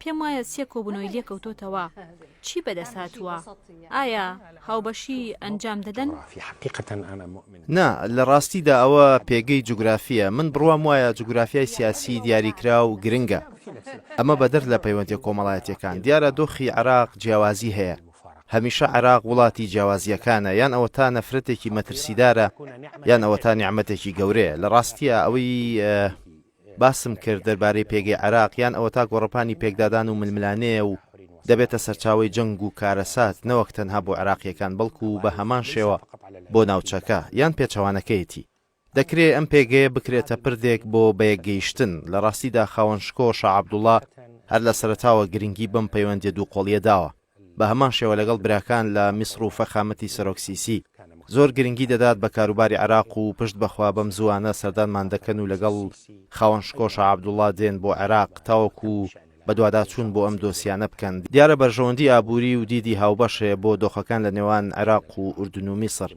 پێم وایە سێ کۆبوونەوەی لێکەوتۆتەوە. چی بەدەستهاتووە؟ ئایا هاوبەشی ئەنجام دەدەن؟ نا، لە ڕاستیدا ئەوە پێگەی جوگرافییە. من بڕوام وایە جوگرافیای سیاسیی دیاریکراو گرنگە. ئەمە بەدەر لە پەیوەندییە کۆمەڵایەتییەکان. دیارە دۆخی عێراق جیاوازی هەیە. هەمیشە عێراق وڵاتی جیاوازییەکانە. یان ئەوەتا نەفرەتێکی مەترسیدارە، یان ئەوەتا نیعمەتێکی گەورەیە. لە ڕاستییا ئەوەی. باسم کرد دەربارەی پێگەی عێراق یان ئەوەتا گۆڕەپانی پێکدادان و ململانێیە و دەبێتە سەرچاوەی جەنگ و کارەسات نەوەک تەنها بۆ عێراقییەکان بەڵکو بە هەمان شێوە بۆ ناوچەکە یان پێچەوانەکەیەتی. دەکرێ ئەم پێگەیە بکرێتە پردێک بۆ بەیەکگەیشتن. لە ڕاستیدا خاوەن شکۆ شا عەبدوڵا هەر لە سەرەتاوە گرنگی بەم پەیوەندییە دووقۆڵییە داوە. بە هەمان شێوە لەگەڵ براکان لە میسڕ و فەخامەتی سەرۆک سیسی زۆر گرنگی دەدات بە کاروباری عێراق و پشت بە خوا بەم زووانە سەردانمان دەکەن و لەگەڵ خاوەن شکۆ شا عەبدوڵڵا دێن بۆ عێراق تاوەکو بەدواداچوون بۆ ئەم دۆسیانە بکەن. دیارە بەرژەوەندی ئابووری و دیدی هاوبەش هەیە بۆ دۆخەکان لە نێوان عێراق و ئوردن و میسڕ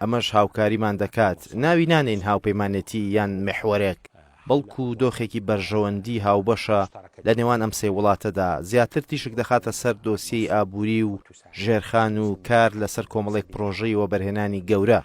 ئەمەش هاوکاریمان دەکات ناوی نانێین هاوپەیمانێتی یان محوەرێک، بەڵکو دۆخێکی بەرژەوەندی هاوبەشە لە نێوان ئەم سێ وڵاتەدا، زیاتر تیشک دەخاتە سەر دۆسیەی ئابووری و ژێرخان و کار لەسەر کۆمەڵێک پرۆژەی وەبەرهێنانی گەورە،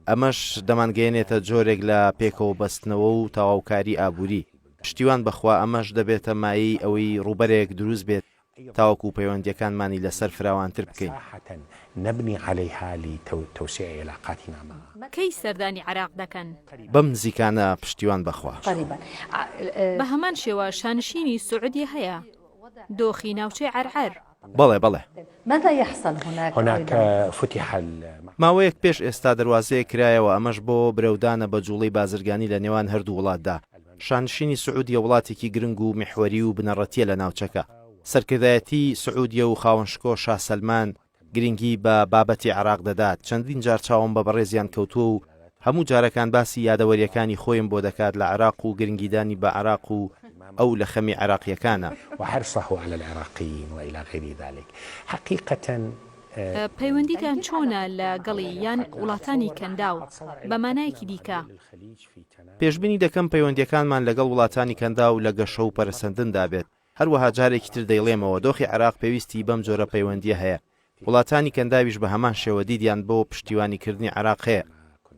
ئەمەش دەمانگەیەنێتە جۆرێک لە پێکەوەبەستنەوە و تەواوکاری ئابووری. پشتیوان بەخوا ئەمەش دەبێتە مایەی ئەوەی ڕووبەرێک دروست بێت تاوەکو پەیوەندییەکانمانی لەسەر فراوانتر بکەین. کەی سەردانی عێراق دەکەن؟ بەم نزیکانە پشتیوان بەخوا. بە هەمان شێوە شانشینی سعودیە هەیە؟ دۆخی ناوچەی عەرعەر. بەڵێ بەڵێ. ماوەیەک پێش ئێستا دەروازەیەک کرایەوە ئەمەش بۆ برەودانە بە جوڵەی بازرگانی لە نێوان هەردوو وڵاتدا. شانشینی سعودیە وڵاتێکی گرنگ و میحوەری و بنەڕەتییە لە ناوچەکە. سەرکردایەتی سعودیە و خاوەن شکۆ شا سەلمان گرنگی بە بابەتی عێراق دەدات، چەندین جار چاوم بە بەڕێزیان کەوتووە و هەموو جارەکان باسی یادەوەرییەکانی خۆیم بۆ دەکات لە عێراق و گرنگیدانی بە عێراق و ئەو لە خەمی عێراقییەکانە. وحرصه علی العراقیین و الی غیر ذلک حقیقەتەن. پەیوەندیتان چۆنە لە گەڵی یان وڵاتانی کەنداو بە مانایەکی دیکە؟ پێشبینی دەکەم پەیوەندییەکانمان لەگەڵ وڵاتانی کەنداو لە گەشە و پەرەسەندندا بێت، هەروەها جارێکی تر دەیڵێمەوە دۆخی عێراق پێویستی بەم جۆرە پەیوەندییە هەیە، وڵاتانی کەنداویش بە هەمان شێوە دیدیان بۆ پشتیوانیکردنی عێراق هەیە.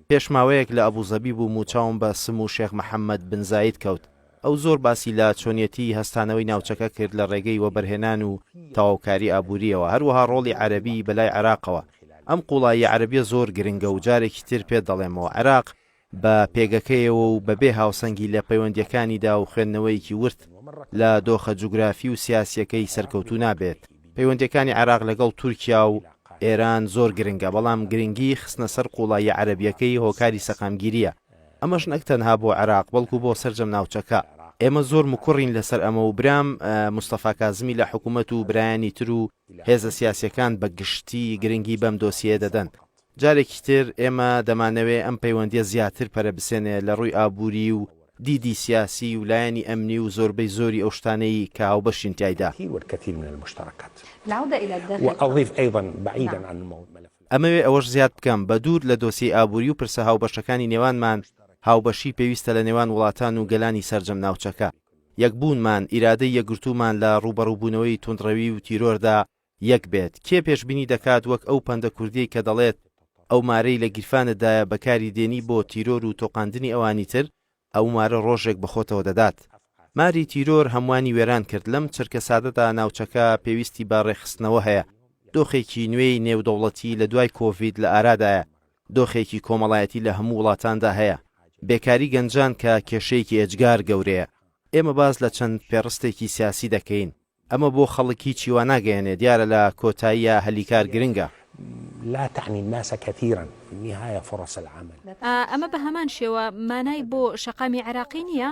پێش ماوەیەک لە ئەبوزەبی بووم و چاوم بە سمو شێخ محەممەد بن زاید کەوت، ئەو زۆر باسی لە چۆنیەتیی هەستانەوەی ناوچەکە کرد لە ڕێگەی وەبەرهێنان و تەواوکاری ئابوورییەوە، هەروەها ڕۆڵی عەرەبی بەلای عێراقەوە. ئەم قووڵاییە عەرەبییە زۆر گرنگە و جارێکی تر پێت دەڵێمەوە، عێراق بە پێگەکەیەوە و بەبێ هاوسەنگی لە پەیوەندییەکانیدا و خوێندنەوەیەکی ورد لە دۆخە جوگرافی و سیاسییەکەی سەرکەوتوو نابێت. پەیوەندییەکانی عێراق لەگەڵ تورکیا و ئێران زۆر گرنگە، بەڵام گرنگیی خستنە سەر قووڵاییە عەرەبییەکەی هۆکاری سەقامگیرییە، ئەمەش نەک تەنها بۆ عێراق، بەڵکو بۆ سەرجەم ناوچەکە. ئێمە زۆر مکوڕین لەسەر ئەمە و برام مستەفا کازمی لە حکومەت و برایانی تر و هێزە سیاسییەکان بە گشتی گرنگی بەم دۆسیەیە دەدەن. جارێکی تر ئێمە دەمانەوێ ئەم پەیوەندییە زیاتر پەرەبسێنێ لە ڕووی ئابووری و دیدی سیاسی و لایەنی ئەمنی و زۆربەی زۆری ئەو شتانەی کە هاوبەشین تیایدا. ئەمەوێ ئەوەش زیاد بکەم، بە دوور لە دۆسیەی ئابووری و پرسە هاوبەشەکانی نێوانمان، هاوبەشی پێویستە لە نێوان وڵاتان و گەلانی سەرجەم ناوچەکە. یەکبوونمان، ئیرادەی یەکگرتوومان لە ڕووبەڕووبوونەوەی توندڕەوی و تیرۆردا یەک بێت کێ پێشبینی دەکات وەک ئەو پەندە کوردیەی کە دەڵێت ئەو مارەی لە گیرفانت دایە بەکاری دێنی بۆ تیرۆر و تۆقاندنی ئەوانی تر ئەو مارە ڕۆژێک بە خۆتەوە دەدات ماری تیرۆر هەموانی وێران کرد لەم چرکە سادەدا ناوچەکە پێویستی بە ڕێکخستنەوە هەیە دۆخێکی نوێی نێودەوڵەتی لە دوای کۆڤید لە ئارادایە دۆخێکی کۆمەڵایەتی لە هەموو وڵاتاندا هەیە بێکاری گەنجان کە کێشەیەکی ئێجگار گەورەیە ئێمە باس لە چەند پێڕستێکی سیاسی دەکەین ئەمە بۆ خەڵک هیچی وا ناگەیەنێ دیارە لە کۆتاییا هەلی کار گرنگە. لا تعنی الناس کثیرا فی النهایە فرص العمل. ئەمە بە هەمان شێوە مانای بۆ شەقامی عێراقی نییە؟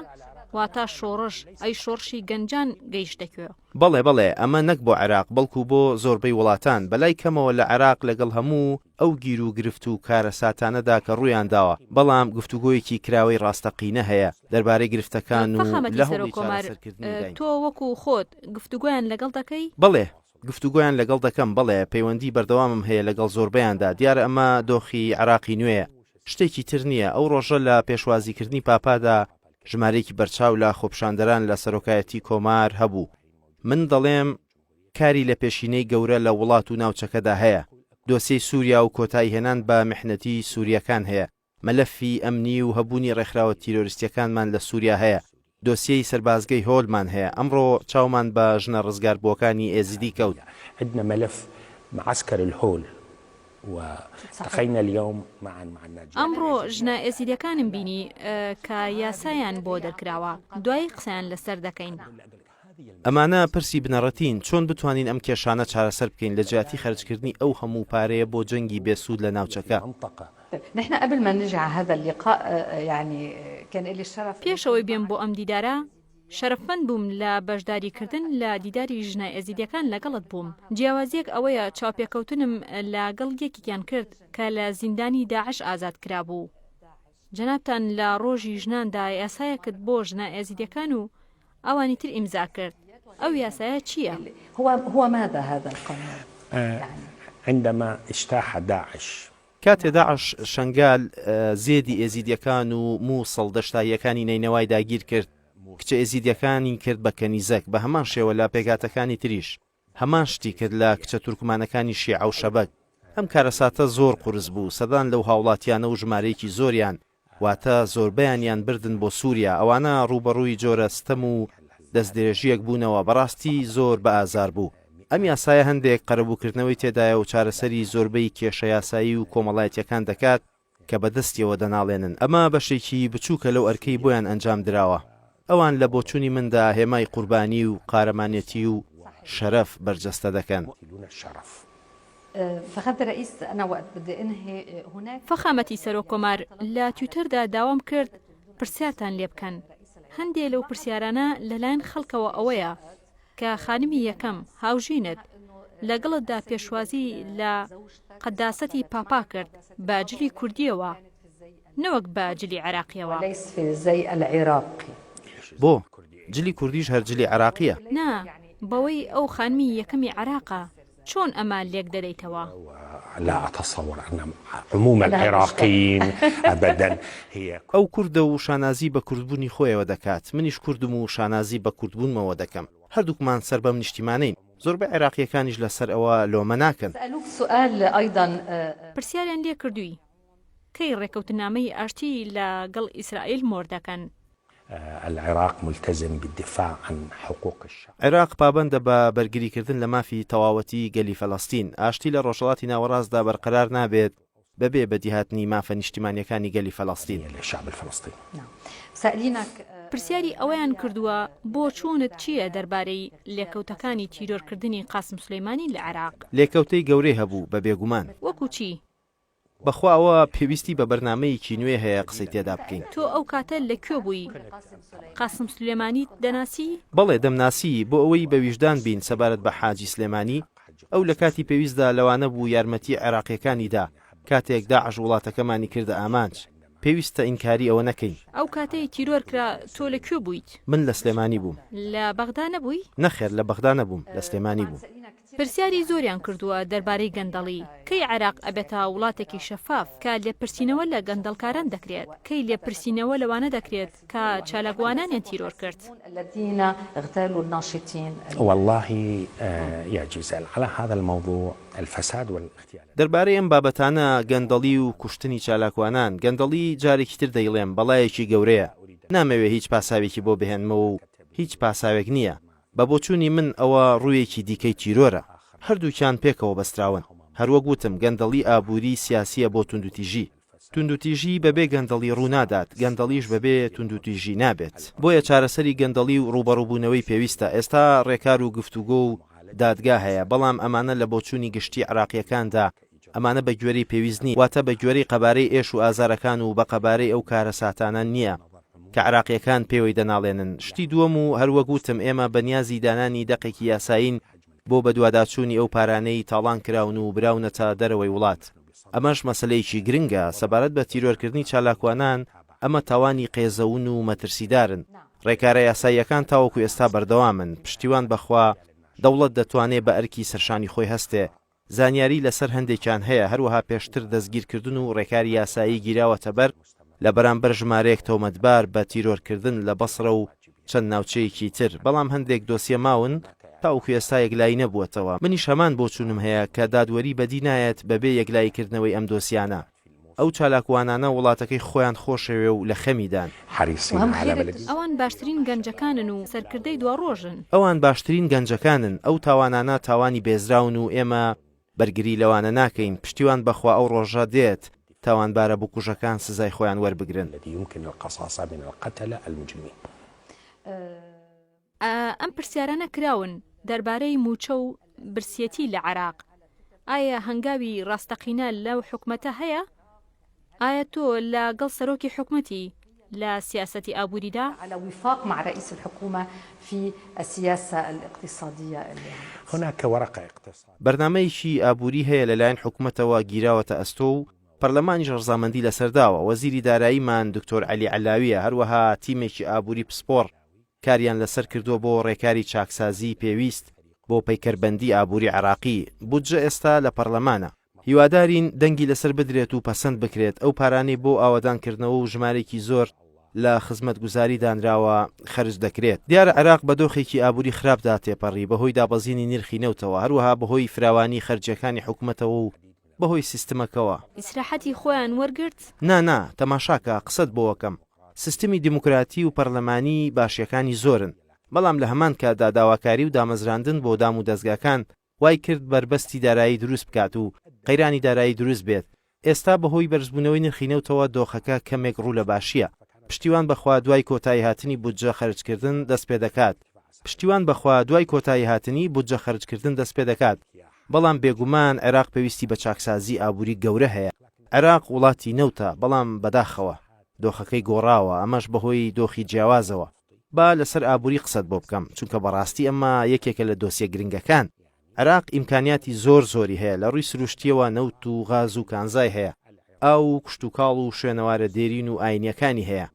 واتا شۆڕش، ئەی شۆڕشی گەنجان گەیشتە کوێ؟ بەڵێ بەڵێ ئەمە نەک بۆ عێراق بەڵکو بۆ زۆربەی وڵاتان بەلای کەمەوە لە عێراق لەگەڵ هەموو. ئەو گیروگرفت و کارەساتانەدا کە ڕوویانداوە، بەڵام گفتوگۆیەکی کراوەی ڕاستەقینە هەیە دەربارەی گرفتەکان و لە هەوڵی چارەسەرکردنیداین. تۆ وەکو خۆت گفتوگۆیان لەگەڵ دەکەی؟ بەڵێ، گفتوگۆیان لەگەڵ دەکەم، بەڵێ، پەیوەندی بەردەوامم هەیە لەگەڵ زۆربەیاندا، دیارە ئەمە دۆخی عێراقی نوێیە، شتێکی تر نییە، ئەو ڕۆژە لە پێشوازیکردنی پاپادا ژمارەیەکی بەرچاو لە خۆپیشاندەران لە سەرۆکایەتی کۆمار هەبوو، من دەڵێم، کاری لە پێشینەی گەورە لە وڵات و ناوچەکەدا هەیە، دۆسیەی سوریا و کۆتایی هێنان بە میحنەتی سورییەکان هەیە، مەلەفی ئەمنی و هەبوونی ڕێکخراوە تیرۆریستییەکانمان لە سوریا هەیە، دۆسیەی سەربازگەی هۆلمان هەیە، ئەمڕۆ چاومان بە ژنە ڕزگاربووەکانی ئێزیدی کەوت. عندنا ملف معسكر الهول و التقينا اليوم معا مع الناجيات. ئەمڕۆ ژنە ئێزیدییەکانم بینی کە یاسایان بۆ دەرکراوە، دوایی قسەیان لەسەر دەکەین. ئەمانە پرسی بنەڕەتین، چۆن بتوانین ئەم کێشانە چارەسەر بکەین لە جیاتی خەرجکردنی ئەو هەموو پارەیە بۆ جەنگی بێ سوود لە ناوچەکە؟ پێشەوەی بێم بۆ ئەم دیدارە، شەرەفمەند بووم لە بەشداریکردن لە دیداری ژنە ئێزیدییەکان لەگەڵت بووم، جیاوازییەک ئەوەیە چاوپێکەوتنم لەگەڵ یەکێکیان کرد کە لە زیندانی داعش ئازاد کرابوو. جەنابتان لە ڕۆژی ژناندا یاسایەکت بۆ ژنە ئێزیدییەکان و ئەوانی تر ئیمزا کرد ئەو یاسایە چییە؟ هو هو ماذا هذا القانون يعني؟ عندما اجتاح داعش. کاتێ داعش شەنگال، زێدی ئێزیدیەکان و مووسڵ، دەشتاییەکانی نەینەوای داگیرکرد، کچە ئێزیدیەکانی کرد بە کەنیزەک، بەهەمان شێوە لە پێکهاتەکانی تریش، هەمان شتی کرد لە کچە تورکمانەکانی شیعە و شەبەک. ئەم کارەساتە زۆر قورس بوو، سەدان لەو هاوڵاتیانە و ژمارەیەکی زۆریان واتە زۆربەیانیان بردن بۆ سوریا، ئەوانە ڕووبەڕووی جۆرە ستەم و دەستدرێژییەک بوونەوە بەڕاستی زۆر بە ئازار بوو. ئەم یاسایە هەندێک قەرەبووکردنەوەی تێدایە و چارەسەری زۆربەی کێشە یاسایی و کۆمەڵایەتییەکان دەکات، کە بە دەستیەوە دەناڵێنن، ئەمە بەشێکی بچووکە لەو ئەرکەی بۆیان ئەنجام دراوە، ئەوان لە بۆچوونی مندا هێمای قوربانی و قارەمانێتی و شەرەف بەرجەستە دەکەن. فەخامەتی سەرۆک کۆمار، لە تویتەردا داوام کرد پرسیارتان لێبکەن، هەندێ لەو پرسیارانە لەلایەن خەڵکەوە ئەوەیە، دەکات کە خانمی یەکەم، هاوژینت، لەگەڵتدا پێشوازی لە قەداسەتی پاپا کرد بە جلی کوردییەوە نەوەک بە جلی عێراقییەوە. بۆ؟ جلی کوردیش هەر جلی عێراقییە. نا، بەوەی ئەو خانمی یەکەمی عێراقە. چۆن ئەمە لێک دەدەیتەوە؟ ئەو کوردە و شانازی بە کوردبوونی خۆیەوە دەکات، منیش کوردم و شانازی بە کوردبوونمەوە دەکەم، هەردووکمان سەر بەم نیشتیمانەین، زۆربەی عێراقییەکانیش لەسەر ئەوە لۆمە ناکەن. پرسیاریان لێ کردووی؟ کەی ڕێکەوتنامەی ئاشتی لە گەڵ ئیسرائیل مۆر دەکەن؟ العراق ملتزم بالدفاع عن حقوق الشعب. عێراق پابەندە بە بەرگریکردن لە مافی تەواوەتیی گەلی فەلەستین. ئاشتی لە ڕۆژهەڵاتی ناوەڕاستدا بەرقەرار نابێت بەبێ بەدیهاتنی مافە نیشتیمانییەکانی گەلی فەلەستین. پرسیاری ئەوەیان کردووە، بۆچوونت چییە دەربارەی لێکەوتەکانی تیرۆرکردنی قاسم سولەیمانی لە عێراق؟ لێکەوتەی گەورەی هەبوو، بە بێگومان. وەکو چی؟ بەخوا ئەوە پێویستی بە بەرنامەیەکی نوێ هەیە قسەی تێدا بکەین. تۆ ئەو کاتە لە کوێ بووی؟ قاسم سلێمانیت دەناسی؟ بەڵێ دەمناسی، بۆ ئەوەی بە ویژدان بین سەبارەت بە حاجی سلێمانی، ئەو لە کاتی پێویستدا لەوانە بوو یارمەتی عێراقییەکانی دا، کاتێک داعش وڵاتەکەمانی کردە ئامانج، پێویستە ئینکاری ئەوە نەکەین. ئەو کاتەی تیرۆر کرا تۆ لە کوێ بوویت؟ من لە سلێمانی بووم. لە بەغدا نەبووی؟ نەخێر لە بەغدا نەبووم، لە سلێمانی بووم. پرسیاری زۆریان کردووە دەربارەی گەندەڵی، کەی عێراق ئەبێتە وڵاتێکی شەفاف کە لێپرسینەوە لە گەندەڵکاران دەکرێت، کەی لێپرسینەوە لەوانە دەکرێت کە چالاکوانانیان تیرۆر کرد؟ واللەهی یا جیزەل علی هذا الموضوع الفساد والاغتیال. دەربارەی ئەم بابەتانە، گەندەڵی و کوشتنی چالاکوانان، گەندەڵی جارێکی تر دەیڵێم بەڵایەکی گەورەیە، نامەوێ هیچ پاساوێکی بۆ بهێنمەوە و هیچ پاساوێک نییە، بە بۆچوونی من ئەوە ڕوویەکی دیکەی تیرۆرە. هەردووکیان پێکەوە بەستراون. هەر وەک وتم گەندەڵی ئابووری سیاسییە بۆ توندوتیژی. توندوتیژی بەبێ گەندەڵی ڕوو نادات، گەندەڵیش بەبێ توندوتیژی نابێت. بۆیە چارەسەری گەندەڵی و ڕووبەڕووبوونەوەی پێویستە. ئێستا ڕێکار و گفتوگۆ و دادگا هەیە، بەڵام ئەمانە لە بۆچوونی گشتی عێراقییەکاندا ئەمانە بە گوێرەی پێویست نین، واتە بە گوێرەی قەبارەی ئێش و ئازارەکان و بە قەبارەی ئەو کارەساتانە نییە کە عێراقییەکان پێوەی دەناڵێنن. شتی دووەم و هەر وەک وتم ئێمە بە نیازی دانانی دەقێکی یاسایین بۆ بەدواداچوونی ئەو پارانەی تاڵان کراون و براونەتە دەرەوەی وڵات. ئەمەش مەسەلەیەکی گرنگە. سەبارەت بە تیرۆرکردنی چالاکوانان، ئەمە تاوانی قێزەون و مەترسیدارن. رێکارە یاساییەکان تاوەکو ئێستا بەردەوامن. پشتیوان بە خوا، دەوڵەت دەتوانێ بە ئەرکی سەرشانی خۆی هەستێ، زانیاری لەسەر هەندێکیان هەیە، هەروەها پێشتر دەستگیرکردن و ڕێکاری یاسایی گیراوەتەبەر لە بەرامبەر ژمارەیەک تۆمەتبار بە تیرۆرکردن لە بەسڕە و چەند ناوچەیەکی تر، بەڵام هەندێک دۆسیە ماون تاوەکو ئێستا یەکلایی نەبووەتەوە، منیش هەمان بۆچوونم هەیە کە دادوەری بەدی نایەت بەبێ یەکلاییکردنەوەی ئەم دۆسیانە. ئەو چالاکوانانە وڵاتەکەی خۆیان خۆشەوێ و لە خەمیدان. ئەوان باشترین گەنجەکانن و سەرکردەی دواڕۆژن. ئەوان باشترین گەنجەکانن، ئەو تاوانانە تاوانی بێزراون و ئێمە بەرگری لەوانە ناکەین، پشتیوان بەخوا ئەو ڕۆژە دێت تاوانبارە بکوژەکان سزای خۆیان وەربگرن. ئەم پرسیارانە کراون دەربارەی مووچە و برسیەتی لە عێراق، ئایا هەنگاوی ڕاستەقینە لەو حکومەتە هەیە؟ ئایا تۆ لە گەڵ سەرۆکی حکومەتی لە سیاسەتی ئابووریدا؟ بەرنامەیەکی ئابووری هەیە لەلایەن حکومەتەوە گیراوەتە ئەستۆ و پەرلەمانیش ڕەزامەندی لەسەر داوە، وەزیری داراییمان دکتۆر عەلی عەلاوییە، هەروەها تیمێکی ئابووری پسپۆڕ، کاریان لەسەر کردووە بۆ ڕێکاری چاکسازیی پێویست بۆ پەیکەربەندی ئابووری عێراقی، بودجە ئێستا لە پەرلەمانە، هیوادارین دەنگی لەسەر بدرێت و پەسەند بکرێت، ئەو پارانەی بۆ ئاوەدانکردنەوە و ژمارێکی زۆر لە خزمەتگوزاری دانراوە خەرج دەکرێت. دیارە عێراق بە دۆخێکی ئابووری خراپدا تێپەڕی، بەهۆی دابەزینی نرخی نەوتەوە، هەروەها بەهۆی فراوانی خەرجییەکانی حکومەتەوە و بەهۆی سیستمەکەوە. ئیسراحەتی خۆیان وەرگرت؟ نا نا، تەماشاکە قسەت بۆوەکەم، سیستمی دیموکراتی و پەرلەمانی باشیەکانی زۆرن، بەڵام لە هەمان کاتدا داواکاری و دامەزراندن بۆ دام و دەزگاکان وای کرد بەربەستی دارایی دروست بکات و قەیرانی دارایی دروست بێت، ئێستا بەهۆی بەرزبوونەوەی نرخی نەوتەوە دۆخەکە کەمێک ڕوو لە باشیە، پشتیوان بەخوا دوای کۆتایی هاتنی بودجە خەرجکردن دەست پێدەکات. پشتیوان بەخوا دوای کۆتایی هاتنی بودجە خەرجکردن دەست پێدەکات. بەڵام بێگومان عێراق پێویستی بە چاکسازی ئابووری گەورە هەیە، عێراق وڵاتی نەوتە، بەڵام بەداخەوە دۆخەکەی گۆڕاوە، ئەمەش بەهۆی دۆخی جیاوازەوە. با لەسەر ئابووری قسەت بۆ بکەم، چونکە بەڕاستی ئەمە یەکێکە لە دۆسیە گرنگەکان. عێراق ئیمکانیاتی زۆر زۆری هەیە، لە ڕووی سرووشتییەوە نەوت و غاز و کانزای هەیە، ئاو و کشتوکاڵ و شوێنەوارە دێرین و ئاینییەکانی هەیە،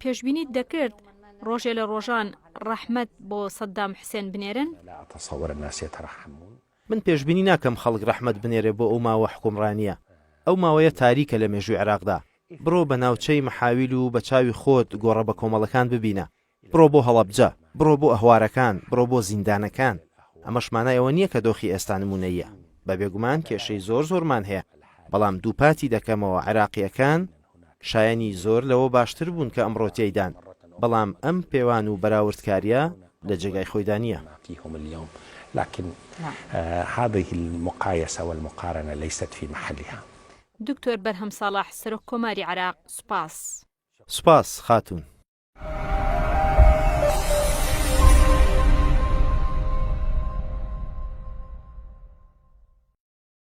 پێشبینیت دەکرد ڕۆژێ لە ڕۆژان ڕەحمەت بۆ سەدام حسێن بنێرن؟ من پێشبینی ناکەم خەڵک ڕەحمەت بنێرێ بۆ ئەو ماوە حوکمڕانییە. ئەو ماوەیە تاریکە لە مێژووی عێراقدا. بڕۆ بە ناوچەی محاویل و بە چاوی خۆت گۆڕە بەکۆمەڵەکان ببینە. بڕۆ بۆ هەڵەبجە. بڕۆ بۆ ئەهوارەکان. بڕۆ بۆ زیندانەکان. ئەمەش مانای ئەوە نییە کە دۆخی ئێستا نموونەییە. بە بێگومان کێشەی زۆر زۆرمان هەیە، بەڵام دووپاتی دەکەمەوە عێراقییەکان شایەنی زۆر لەوە باشتر بوون کە ئەمڕۆ تیایدان، بەڵام ئەم پێوان و بەراوردکاریە لە جێگای خۆیدا نیە. دکتۆر بەرهەم ساڵح سەرۆک کۆماری عێراق سوپاس. سوپاس خاتوون.